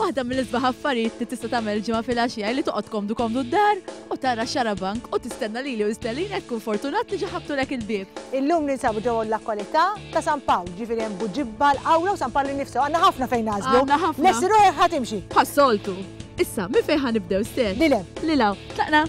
Waħda mill-isbaħ affarijiet li tista' tagħmel ġimgħa fil-għaxija li toqgħod komdu komdu d-dar u tara xarabank u tistenna lili u Stellin hekk kun fortunat li ġaħabtulek il-bieb. Illum ninsabu ġewwa l-lokolità ta' San Pawl, ġifieri hemm Buġibba, l-Qawra u San Pawl innifsu. Għandna ħafna fejn nagħżlu. Għandna ħafna. Lesti ruħek ħa timxi. Bħas-soltu. Issa, minn fejn ħa nibdew, Stell? Lil hemm. Lil hawn. Tlaqna?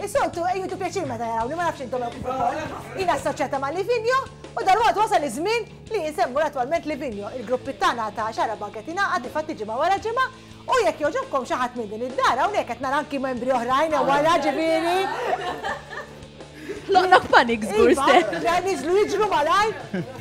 Is-soltu jieħdu pjaċir meta jarawni, ma nafx intom hekk kif ukoll. Jiena assoċjata ma' Livigno u dalwaqt wasal iż-żmien li insemmu l-attwalment Livigno. Il-gruppit tagħna ta' Xagħra B'Hawn qed jingħaqad difatti ġimgħa wara ġimgħa u jekk jogħġobkom xi ħadd minn din id-dar hawnhekk qed nara anki membri oħrajn hemm wara ġifieri. Ħloqna f'panik żgur stess. Iva, le niżlu jiġru malajr.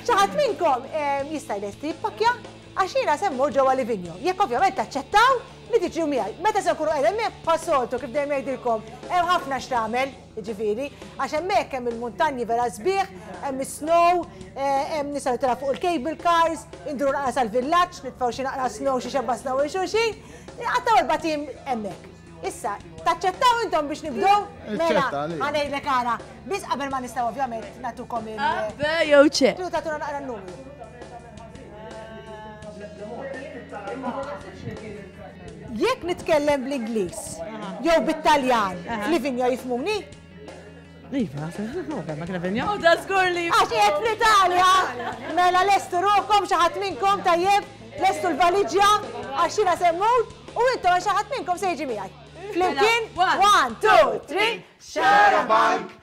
Xi ħadd minnkom jista' jlesti jippakkja għax jiena se mmur ġewwa Livigno. Jekk ovvjament taċċettaw Li tiġu miegħi. Meta se nkunu qiegħda hemmhekk, bħas-soltu, kif dejjem ngħidilkom, hemm ħafna x'tagħmel, jiġifieri, għax hemmhekk hemm il-muntanji vera sbieħ, hemm is-snow, hemm nistgħu nitellgħu fuq il-cable cars, induru naqra sal-villaġġ, nitfgħu xi naqra snow, xi xebba snow lil xulxin. Inqattgħu erbat ijiem hemmhekk. Issa, taċċettaw intom biex nibdew? Mela, ħa ngħidlek ara, biss qabel ma nistgħu ovvjament nagħtukom il. A, B jew C. Tridu tagħtuna naqra n-numri. Jekk nitkellem bl-Ingliż jew bit-Taljan, Livinjo jifmuni? Iva, ma kena venja. U da zgur li. Għax jgħet fl-Italja. Mela lestu ruħkom xaħat minnkom tajjeb, lestu l-valiġja, għax jina semmut, u intom għax xaħat minnkom sejġi miħaj. Flimkien, one, two, three, share a bike.